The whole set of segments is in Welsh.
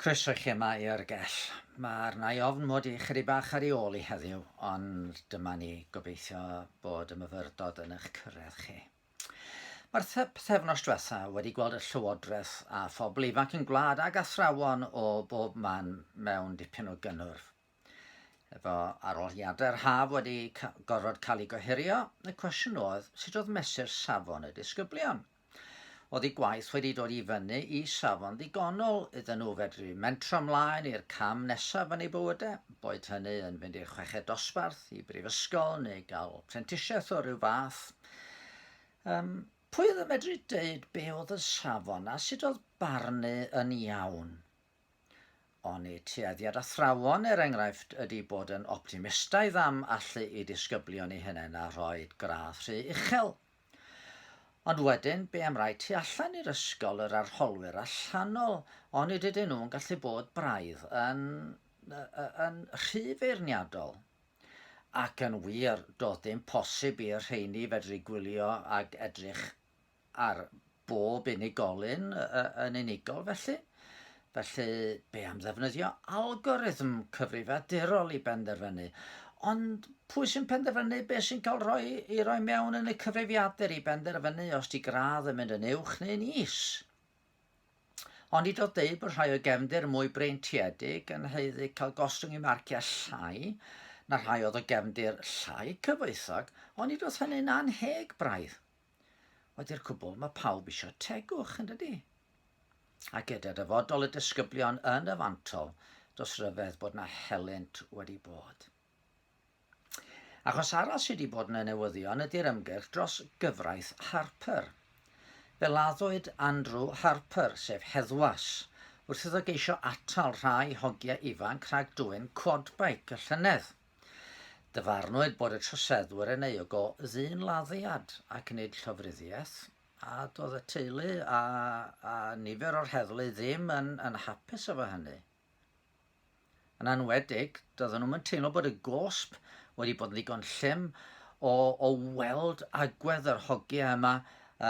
Croeso i chi yma i Yrgell. Mae arna i ofn mod i chydig bach ar ei ôl i heddiw, ond dyma ni gobeithio bod y myfyrdod yn eich cyrraedd chi. Mae'r pethefnos diwetha wedi gweld y Llywodraeth a phobl ifanc yn gwlad ag athrawon o bob man mewn dipyn o gynnwrf. Efo arholiadau'r haf wedi gorfod cael ei gohirio, y cwestiwn oedd sut oedd mesur safon y disgyblion. Oedd ei gwaith wedi dod i fyny i safon ddigonol iddyn nhw fedru mentro ymlaen i'r cam nesaf yn ei bywydau, boed hynny yn fynd i'r chweched dosbarth, i brifysgol neu gael prentisiaeth o ryw fath. Um, pwy oedd yn medru deud be oedd y safon a sut oedd barnu yn iawn Oni tueddiad athrawon, er enghraifft, ydy bod yn optimistaidd am allu i disgyblion i hunain a rhoi gradd rhy uchel? Ond wedyn, be am rai tu allan i'r ysgol, yr arholwyr allanol, oni dydyn nhw'n gallu bod braidd yn, yn rhy feirniadol? Ac yn wir, doedd dim posib i'r rheini fedru gwylio ag edrych ar bob unigolyn yn unigol felly. Felly, be am ddefnyddio algorithm cyfrifiadurol i benderfynu? Ond pwy sy'n penderfynu beth sy'n cael rhoi, i roi mewn yn y cyfrifiadur i benderfynu os di gradd yn mynd yn uwch neu'n is? Ond i dod dweud bod rhai o gefndir mwy breintiedig yn heiddi cael gostwng i marciau llai na rhai oedd o gefndir llai cyfoethog, ond i dod hynny'n anheg braidd. Oedd i'r cwbl, mae pawb eisiau tegwch, yn dydy? A gyda dyfodol y disgyblion yn y fantol, dos ryfedd bod na helynt wedi bod. Achos arall sydd wedi bod yn y newyddion ydy'r ymgyrch dros gyfraith Harper. Fe laddwyd Andrew Harper, sef heddwas, wrth iddo geisio atal rhai hogiau ifanc rhag dwyn quadbike y llynedd. Dyfarnwyd bod y troseddwyr yn euog o ddyn laddiad ac nid llofruddiaeth, a doedd y teulu a, a nifer o'r heddlu ddim yn, yn hapus efo hynny. Yn anwedig, doedden nhw'n teimlo bod y gosb wedi bod yn ddigon llym o, o weld agwedd yr hogia yma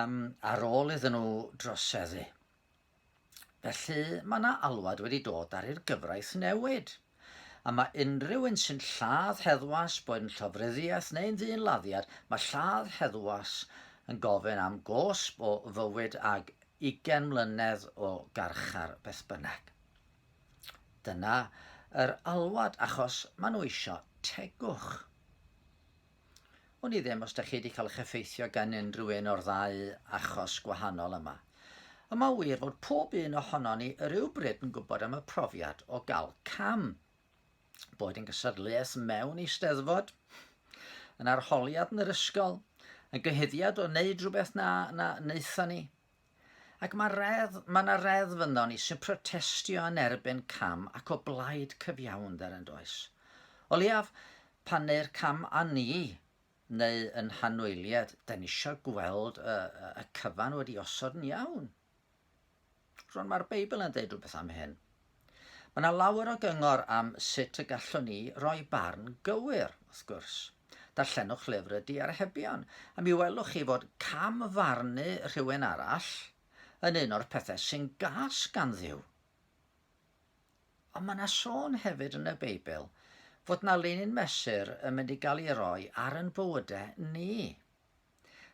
um, ar ôl iddyn nhw droseddu. Felly, mae yna alwad wedi dod ar i'r gyfraith newid. A mae unrhyw un sy'n lladd heddwas, boed yn llofruddiaeth neu'n ddyn laddiad, mae lladd heddwas yn gofyn am gosb o fywyd ag ugain mlynedd o garchar beth bynnag. Dyna yr alwad, achos maen nhw eisiau tegwch. Wn i ddim os da chi wedi cael eich effeithio gan unrhyw un o'r ddau achos gwahanol yma. Y mae wir fod pob un ohono ni yr rywbryd yn gwybod am y profiad o gael cam. Boed yn gysadleuaeth mewn eisteddfod, yn arholiad yn yr ysgol, yn gyhuddiad o wneud rhywbeth na, na wnaethon ni, Ac mae reddf, mae yna reddf ynddo ni sy'n protestio yn erbyn cam ac o blaid cyfiawnder yn does. O leiaf, pan neu'r cam a ni, neu yn hanwyliad, da ni eisiau gweld y, y cyfan wedi osod yn iawn. Rwan mae'r Beibl yn dweud rhywbeth am hyn. Mae yna lawer o gyngor am sut y gallwn ni roi barn gywir, wrth gwrs. Darllenwch lyfr y Diarhebion, a mi welwch chi fod cam-farnu rhywun arall yn un o'r pethau sy'n gas gan Dduw. Ond mae yna sôn hefyd yn y Beibl fod yna linyn mesur yn mynd i gael ei roi ar yn bywydau ni.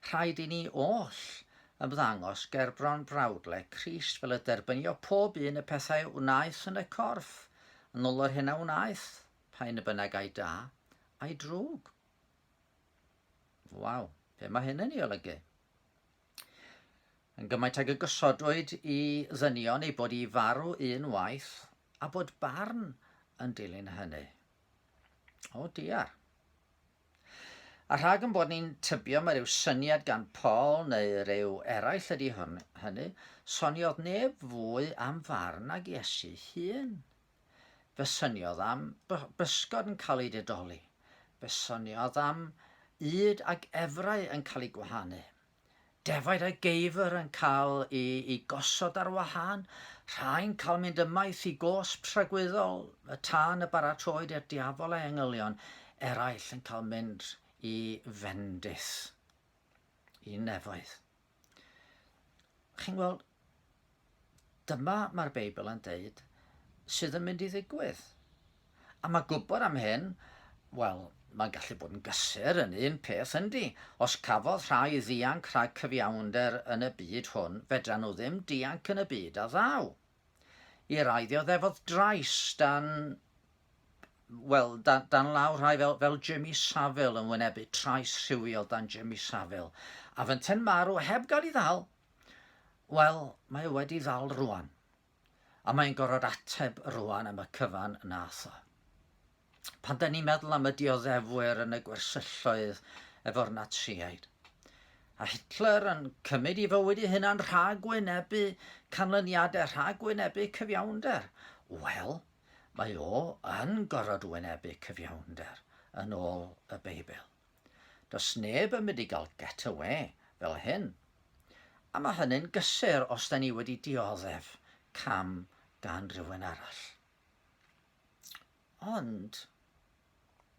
Rhaid i ni oll ymddangos gerbron brawdleg Crist fel y derbynio pob un y pethau a wnaeth yn y corff, yn ol yr hyn a wnaeth, pa un y bynnag ai da, ai drwg. Waw, be mae hyn yn ei olygu? Yn gymaint ag y gosodwyd i ddynion ei bod i farw un waith, a bod barn yn dilyn hynny. O dear. A rhag yn bod ni'n tybio mae rhyw syniad gan Paul neu rhyw eraill ydy hwn, hynny, soniodd neb fwy am farn ag Iesu hun. Fe syniodd am bysgod yn cael ei dedoli. Fe syniodd am yd ag efrau yn cael ei gwahanu. Defaid a geifr yn cael i i gosod ar wahân, rhai'n cael mynd ymaith i gosb rhagwyddol y tân y baratroed i'r diafol a'i engylion, eraill yn cael mynd i fendith, i nefoedd. Chi'n gweld, Dyma, mae'r Beibl yn deud, sydd yn mynd i ddigwydd. A mae gwybod am hyn, wel, mae'n gallu bod yn gysur yn un peth yndi. Os cafodd rhai ddianc rhag cyfiawnder yn y byd hwn, fedra nhw ddim dianc yn y byd a ddaw. I rai ddioddefodd drais dan wel, dan, dan law rhai fel, fel Jimmy Savile yn wynebu trais rhywiol dan Jimmy Savile, a fynten marw heb gael ei ddal, Wel, mae o wedi ddal rwan. A mae'n gorfod ateb rwan am y cyfan nath o. Pan da ni'n meddwl am y dioddefwyr yn y gwersylloedd efo'r Natsiaid, a Hitler yn cymryd i fywyd ei hunan rhag wynebu canlyniadau, rhag wynebu cyfiawnder, wel, mae o yn gorfod wynebu cyfiawnder yn ôl y Beibl. Does neb yn mynd i gael get away fel hyn. A mae hynny'n gysur os da ni wedi dioddef cam gan rhywun arall. Ond,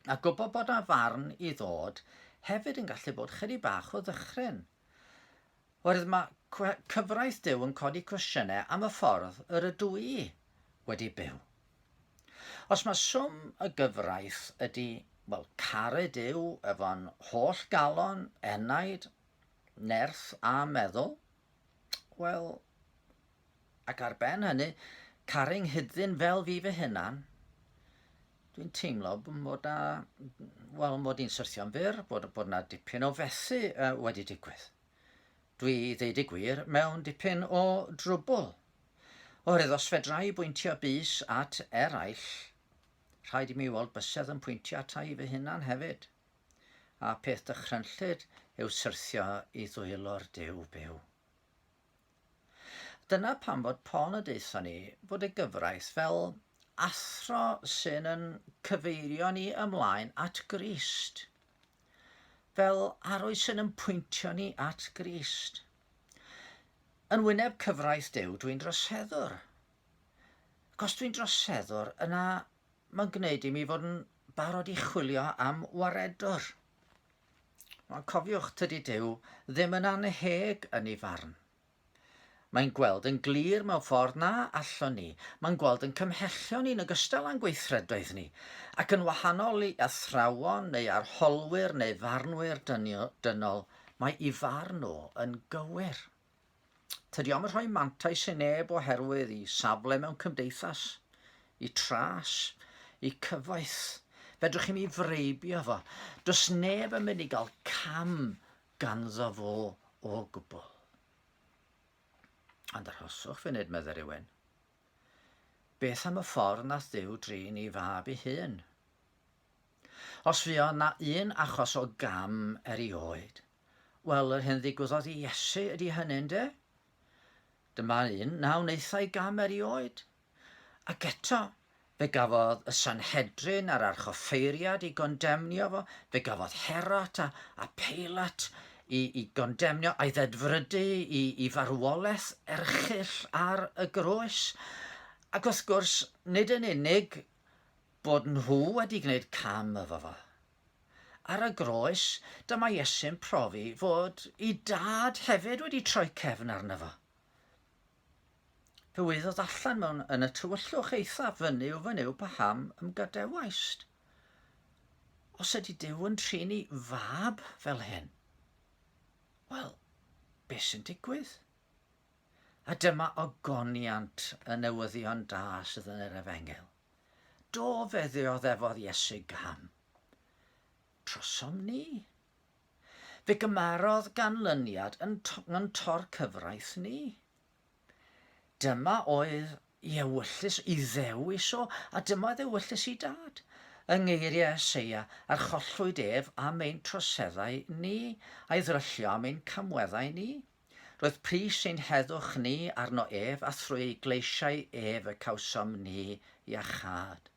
a gwybod bod yna farn i ddod hefyd yn gallu bod chydig bach o ddychryn. Oherwydd mae cyfraith Duw yn codi cwestiynau am y ffordd yr ydw i wedi byw. Os mae swm y gyfraith ydy, wel, caru Duw efo'n holl galon, enaid, nerth a meddwl, wel, Ac ar ben hynny, caru 'nghyd-ddyn fel fi fy hunan, dwi'n teimlo bod na, wel, mod i'n syrthio'n fyr, bod, bod na dipyn o fethu uh, wedi digwydd. Dwi, ddeud y gwir, mewn dipyn o drwbl. Oherwydd os fedra i bwyntio bus at eraill, rhaid i mi weld bysedd yn pwyntio ata i fy hunan hefyd. A peth dychrynllyd yw syrthio i ddwylo'r dew byw. Dyna pam fod Paul y deutha ni fod y gyfraith fel athro sy'n yn cyfeirio ni ymlaen at Grist. Fel arwydd sy'n yn pwyntio ni at Grist. Yn wyneb cyfraith Duw, dwi'n droseddwr. Ac os dwi'n droseddwr, yna mae'n gwneud i mi fod yn barod i chwilio am waredwr. Ond cofiwch, tydi Duw ddim yn annheg yn ei farn. Mae'n gweld yn glir mewn ffordd na allwn ni. Mae'n gweld yn cymhellion ni'n ogystal â'n gweithredoedd ni, ac yn wahanol i athrawon neu arholwyr neu farnwyr dynol, mae i farn o yn gywir. Tydi o'm yn rhoi mantais i neb oherwydd i safle mewn cymdeithas, i tras, i cyfoeth. Fedrwch chi mi freibio fo. Does neb yn mynd i gael cam ganddo fo o gwbl. Ond arhoswch fe nid medde rhywun. Beth am y ffordd nath ddew drin i fab i hun? Os fi o na un achos o gam er i oed, Wel, yr hyn ddigwyddodd i Iesu ydy hynny, ynde? Dyma un na wnaethai gam erioed. Ac eto, fe gafodd y Sanhedrin a'r archoffeiriad i gondemnio fo, fe gafodd Herot a, a Peilat i, i gondemnio a'i ddedfrydu i, i farwolaeth erchyll ar y groes. Ac wrth gwrs, nid yn unig bod nhw wedi gwneud cam efo fo, Ar y groes, dyma Iesu'n profi fod i dad hefyd wedi troi cefn arno fo. Fe wyddodd allan mewn yn y tywyllwch eitha fyny o fyny yw paham ymgadewaist. Os ydy Dyw yn trin i fab fel hyn, wel, beth sy'n digwydd? A dyma ogoniant y newyddion da sydd yn yr efengil. Do, fe ddioddefodd Iesu gam. Trosom ni. Fe gymarodd ganlyniad yn, to, yn tor cyfraith ni. Dyma oedd i ewyllys i ddewis o, a dyma oedd ewyllys i dad. Yng ngeiriau Eseia, archollwyd ef am ein troseddau ni, a'i ddryllio am ein camweddau ni. Roedd pris ein heddwch ni arno ef, a thrwy ei gleisiau ef y cawsom ni iachâd.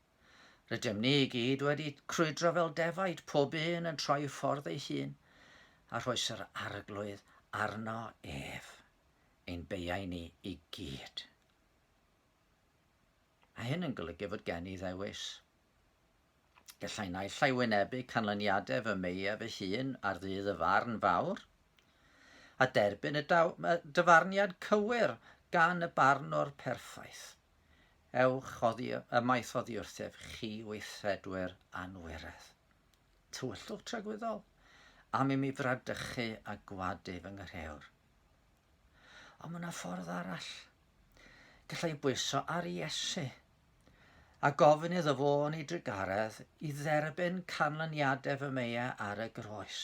Rydym ni i gyd wedi crwydro fel defaid, pob un yn troi ffordd ei hun, a rhoes yr arglwydd arno ef, ein beiau ni i gyd. Mae hyn yn golygu fod gen i ddewis. Gallai naill ai wynebu canlyniadau fy meiau fy hun ar ddydd y farn fawr, a derbyn y dyfarniad cywir gan y barnwr perffaith, Ewch oddi ymaith oddi wrthyf, chi weithredwyr anwiredd. Tywyllwch tragwyddol, am i mi fradychu a gwadu fy ngyrheawr. Ond mae yna ffordd arall. Gallai bwyso ar Iesu a gofyn iddo fo yn ei drugaredd i dderbyn canlyniadau fy meia ar y groes.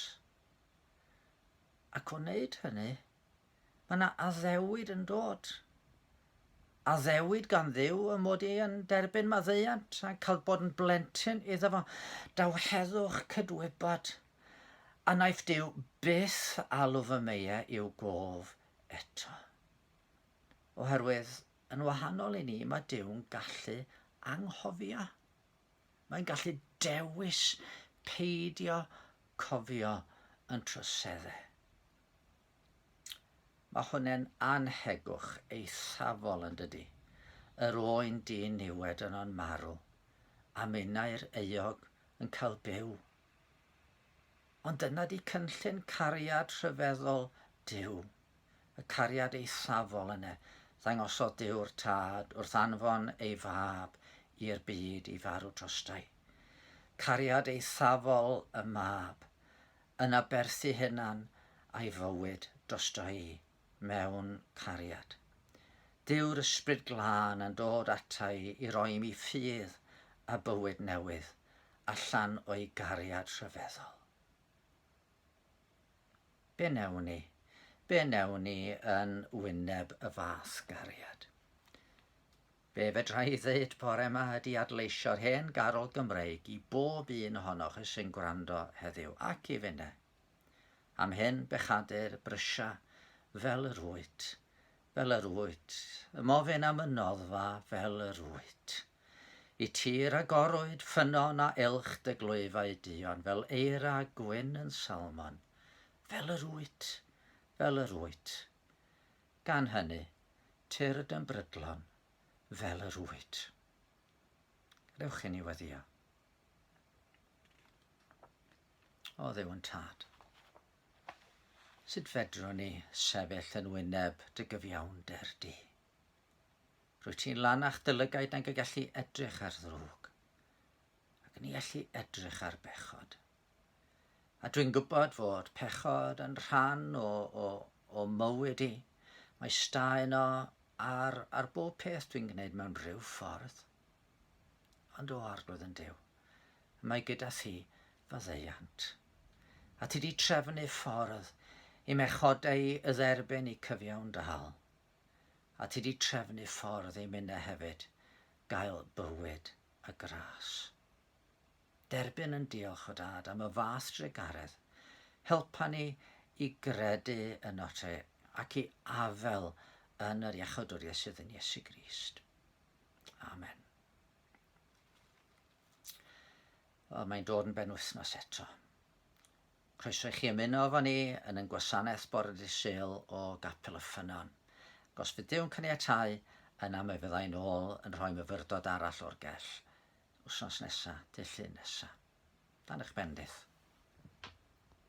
Ac o wneud hynny, mae yna addewid yn dod. Addewid gan ddiw y mod i yn derbyn maddeuant a cael bod yn blentyn iddo fo. Daw heddwch cydwybod. A naiff diw byth alw fy meia i'w gof eto. Oherwydd Yn wahanol i ni, mae Duw'n gallu anghofio. Mae'n gallu dewis peidio cofio yn troseddau. Mae hwnna'n anhegwch eithafol yn dydy. Yr oen dyn niwed yno'n marw, a minnau'r euog yn cael byw Ond dyna di cynllun cariad rhyfeddol Duw, y cariad eithafol yne. Ddangosodd Duw'r Tad wrth anfon ei Fab i'r byd i farw drostai. Cariad eithafol y Mab, yn aberthu hunan a'i fywyd drosto i. mewn cariad. Dyw'r Ysbryd Glân yn dod ata i i roi mi ffydd a bywyd newydd allan o'i gariad rhyfeddol. Be newn ni? Be newn ni yn wyneb y fath gariad? Be fedra i ddeud bore yma ydy adleisio'r hen garol Gymreig i bob un ohonoch sy'n gwrando heddiw ac i finne. Am hen bechade'r brysia fel yr wyt, fel yr wyt, Ym ofyn am y noddfa fel yr wyt. Y tir a gorwyd ffynnon a elch dy glwyfau duon Fel eira gwyn yn salmon, fel yr wyt, fel yr wyt, Gan hynny, tyrd yn brydlon fel yr wyt. Gadewch i ni weddio. O dduw yn tad. Sut fedrwn ni sefyll yn wyneb dy gyfiawnder di? Rwy ti'n lan a'ch dylygaid nag y gallu edrych ar ddrwg, ac ni allu edrych ar bechod. A dwi'n gwybod fod pechod yn rhan o, o, o mywyd i. Mae sta yno ar, ar bob peth dwi'n gwneud mewn rhyw ffordd. Ond o Arglwydd yn Duw, mae gyda thi faddeuant. A ti di trefnu ffordd i mechodau y dderbyn i cyfiawn dal. A ti di trefnu ffordd i minnau hefyd gael bywyd a gras. Derbyn yn diolch o dad am y fath drugaredd. Helpa ni i gredu yn ote ac i afel yn yr iachodwriaeth sydd yn Iesu Grist. Amen. Wel, mae'n dod yn ben wythnos eto. Croeso i chi ymuno efo ni yn yn gwasanaeth bore dy sel o gapel y ffynon. Gos bydd Dyw'n cyniatau, yna mae fyddai'n ôl yn rhoi myfyrdod arall o'r gell. Wsnos nesa, dy llun nesa. Dan eich bendith.